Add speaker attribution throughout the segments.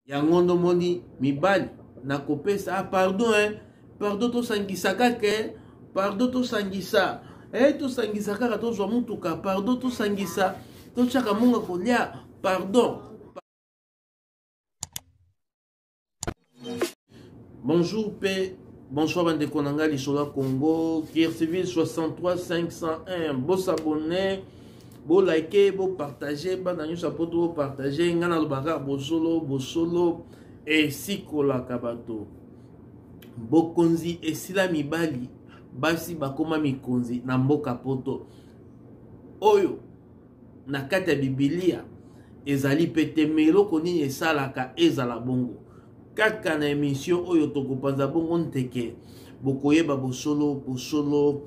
Speaker 1: yango ndo moni mibali nakopesa ah, pardon eh. pardon tosangisa kaka eh. pardon tosangisa eh, tosangisa kaka tozwa motuka pardon tosangisa totyaka monga kolia pardon Bonjour pe bonsoir bandeko na ngai lisolo ya Congo Kircivil 63 501 bosabone bolike bopartage bana nyonso ya poto bopartage ngai nalobaka bosolo bosolo esikolaka bato bokonzi esila mibali basi bakoma mikonzi na mboka poto oyo na kati ya bibilia ezali mpe te me eloko nini esalaka ezala bongo kaka na emission oyo tokopanza bongo nteke bokoyeba bosolo bosolo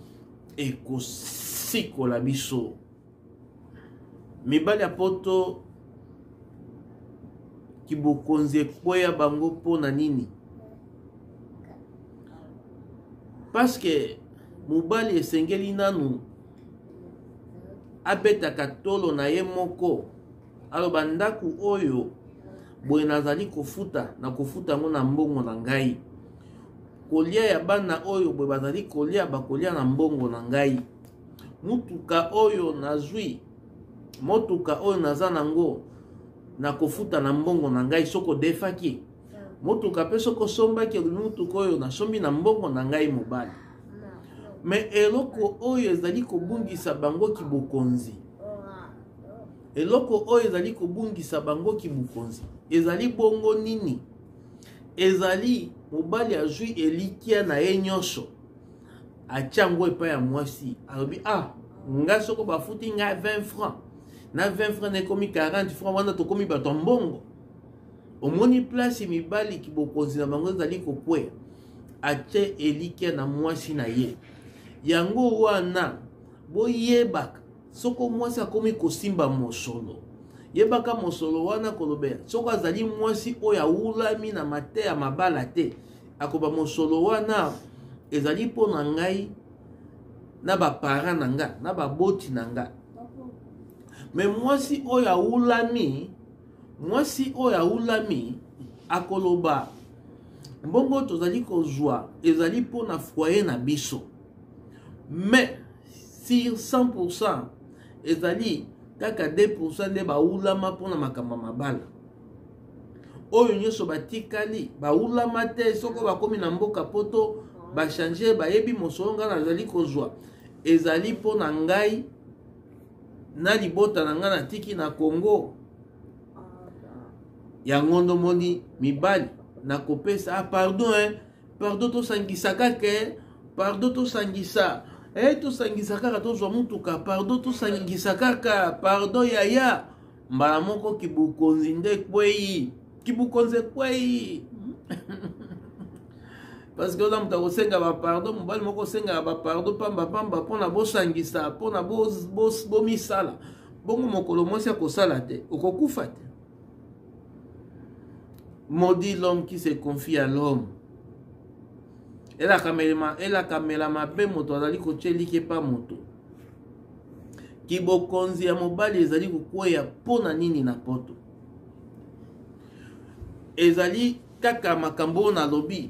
Speaker 1: ekosikola biso mibali ya poto kibokonzi ekweya bango mpo na nini paske mobali esengeli nanu abetaka tolo na ye moko alo bandako oyo boye nazali kofuta na kofuta yango na mbongo na ngai kolia ya bana oyo boye bazali kolia bakolia na mbongo na ngai motuka oyo nazwi motuka oyo naza nango na kofuta na mbongo na ngai soko defaki motuka mpe soki osombaki motuka oyo nasombi na mbongo na ngai mobali me eloko oyo ezali kobungisa bango kibokonzi eloko oyo ezali kobungisa bango kibokonzi ezali bongo nini ezali mobali azwi elikya na ye nyonso atya yango epai ya mwasi alobi ah ngai soko bafuti ngai 20 francs na 20 francs na ekomi 40 francs wana tokomi bato ya mbongo omoni place mibali kibokonzi na bango ezali kokwea atye elikya na mwasi na ye yango wana boyebaka soko mwasi akomi kosimba mosolo yebaka mosolo wana kolobela soko azali mwasi oyo awulami na mateya mabala te akoba mosolo wana ezali mpo na ngai na baparent na nga na baboti na nga me mwasi oyo awulami Mwasi oyo awulami akoloba mbongo tozali kozwa ezali mpo na foyer na biso mais sur 100% ezali kaka 2% nde bawulama mpo na makambo ya mabala oyo nyonso batikali bawulama te soko bakomi na mboka poto bachange bayebi mosolo ngai nazali kozwa ezali mpo na ngai na libota na ngai natiki na congo yango ndomoni mibali nakopesa ah, pardon eh, pardon tosangisa kaka eh, pardon tosangisa eh, tosangisa kaka tozwa motuka pardon tosangisa kaka pardon yaya mbala moko kibukonzi nde ekwei kibukonzi ekwei parce que oza moto akosenga bapardon mobali moko osengaka bapardon pambapamba mpona bosangisa mpona bomisala bongo mokolo mwasi akosala te okokufa te maudit l'homme qui se confie à l'homme elakamela mabe moto azali kotyeliki epa moto kibokonzi ya mobali ezali kokweya mpo na nini na poto ezali kaka makambo oyo nalobi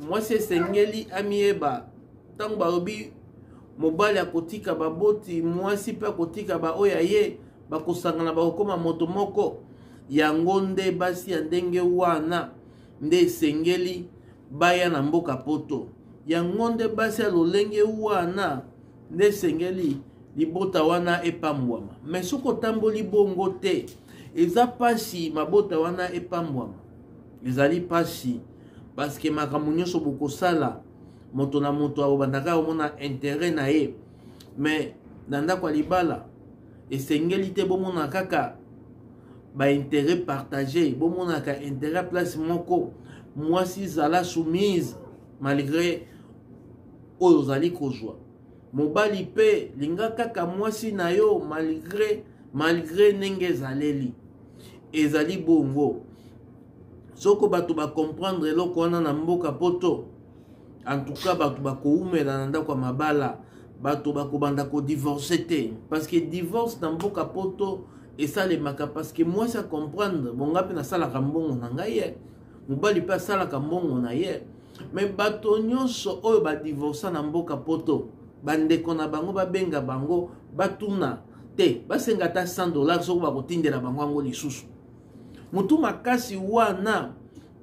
Speaker 1: mwasi esengeli amiyeba ntango balobi mobali akotika baboti mwasi mpe akotika baoyo ya ye bakosangana bakokoma moto moko yango nde basi ya ndenge wana nde esengeli baya na mboka poto yango nde basi ya lolenge wana nde esengeli libota wana epambwama me soki otamboli bongo te eza mpasi mabota wana epambwama ezali mpasi paske makambo nyonso bokosala moto na moto akobandaka omona intere na ye me na ndako ya libala esengeli te bomona kaka baintere partage bomonaka intere ya place moko mwasi zala soumise malgré oyo ozali kozwa mobali mpe linga kaka mwasi na yo malgre malgre ndenge ezaleli ezali bongo soko bato bacomprendre eloko wana na mboka poto antuka bato bakowumela na ndako ya mabala bato bakobanda kodivorce te parce que divorce na mboka poto esalemaka parce que mwasi acomprendre bonga mpe nasalaka mbongo na ngai ye eh. mobali mpe asalaka mbongo na ye me bato nyonso oyo badivorsa na mboka poto bandeko na bango babenga bango batuna te basenga ata 100 dollar soko bakotindela bango yango lisusu motu makasi wana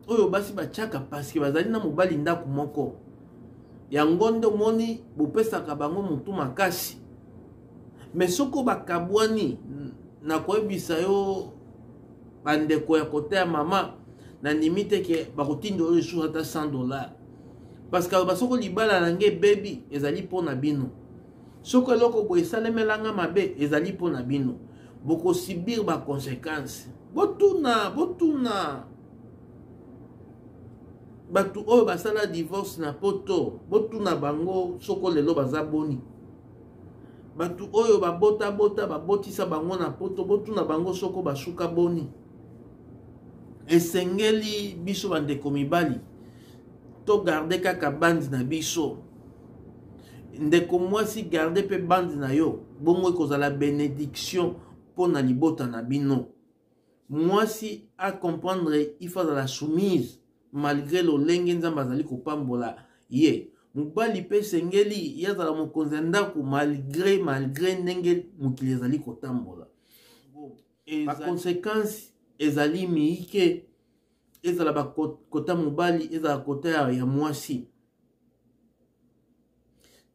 Speaker 1: oyo basi batyaka paske bazali na mobali ndako moko yango nde omoni bopesaka bango motu makasi me soko bakabwani nakoyebisa yo bandeko ya kota ya mama nandimi te ke bakotinda oyo lisusu ata 100 dollar parce que aloba soko libala na ngai ebebi ezali mpo na bino soko eloko boye esalemelanga mabe ezali mpo na bino bokosibir baconsequence botuna botuna bato oyo basala divorce na poto botuna bango soko lelo baza boni bato oyo babotabota babotisa bango na poto botuna bango soko basuka boni esengeli biso bandeko mibali togarde kaka bandi na biso ndeko mwasi garde mpe bandi na yo bongo ekozala benediction mpo na libota na bino mwasi a comprendre il faut azala soumise malgré lolenge nzambe azali kopambola ye mobali mpe esengeli ye azala mokonzi ya ndako malgré malgré ndenge mokili ezali kotambola baconsequence ezali miike ezala bakota mobali ezala kota ya mwasi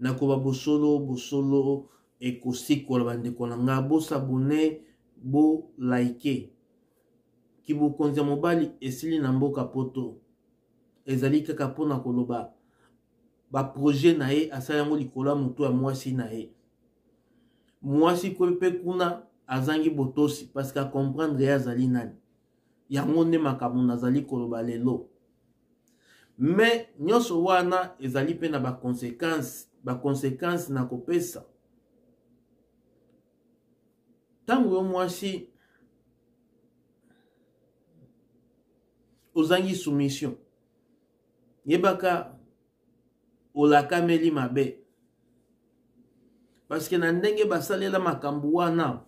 Speaker 1: nakoba bosolo bosolo ekosikola bandeko na nga bosabone bolaike kibokonzi ya mobali esili na mboka poto ezali kaka mpo na koloba baproje na ye asali yango likolo ya moto ya mwasi na ye mwasi mpe kuna azangi botosi parce que acomprendre ye azali nani yango nde makambo nazali koloba lelo mais nyonso wana ezali mpe na baconsequence baconsequence na kopesa ntango yo mwasi ozangi soumission yebaka olakameli mabe parceke na ndenge basalela makambo wana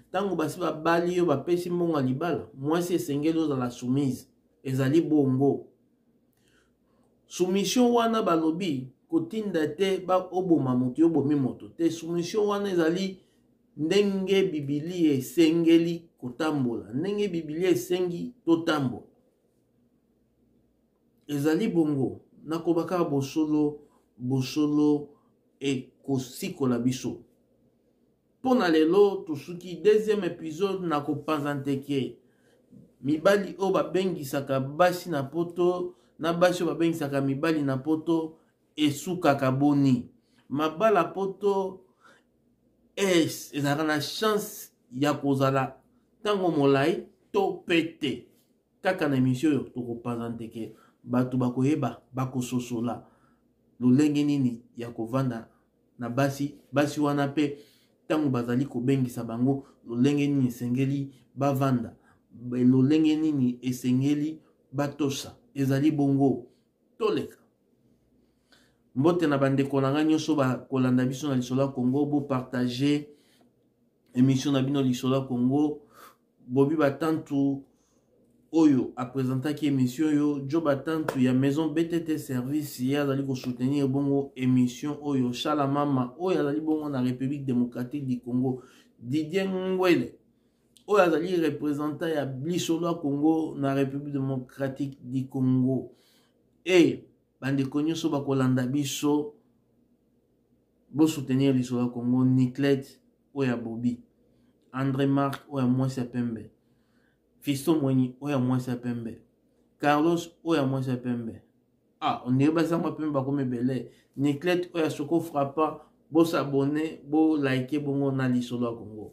Speaker 1: ntango basi babali yo bapesi mbongo ya libala mwasi esengeli ozala soumise ezali bongo soumission wana balobi kotinda te oboma moto yo obomi moto te soumission wana ezali ndenge bibilia esengeli kotambola ndenge bibilia esengi totambola Ezali bongo, nakoba kaka bosolo, bosolo ekosikola biso. Mpo na lelo tosuki deuxième episode na kopanza nteke mibali oyo babengisaka basi na poto na basi oyo babengisaka mibali na poto esukaka boni mabala poto es ezalaka na chance ya kozala ntango molai to mpe te kaka na emission oyo tokopanza ndeke bato bakoyeba bakososola lolenge nini ya kovanda na basi basi wana mpe ntango bazali kobengisa bango lolenge nini esengeli bavanda lolenge nini esengeli batosa ezali bongo toleka mbote na bandeko na ngai nyonso bakolanda biso na lisolo ya kongo bopartage emission na bino lisolo ya kongo bobi batantu oyo apresentaki émission oyo jo batantu ya maison btt service ye azali kosoutenir bongo émission oyo shala mama oyo azali bongo na république démocratique du congo didier ngwele oyo azali représentant ya lisolo ya congo na république démocratique du congo e bandeko nyonso bakolanda biso bosoutenir lisolo ya congo niclete oyo ya bobi andre mark oyo ya mwasi ya pembe fisto mwenyi oyo ya mwasi ya pembe carlos oyo ya mwasi ya pembe ah ondire bazango pembe bakomi ebele niclete oyo ya soko frappa bosabone bolike bongo na lisolo ya kongo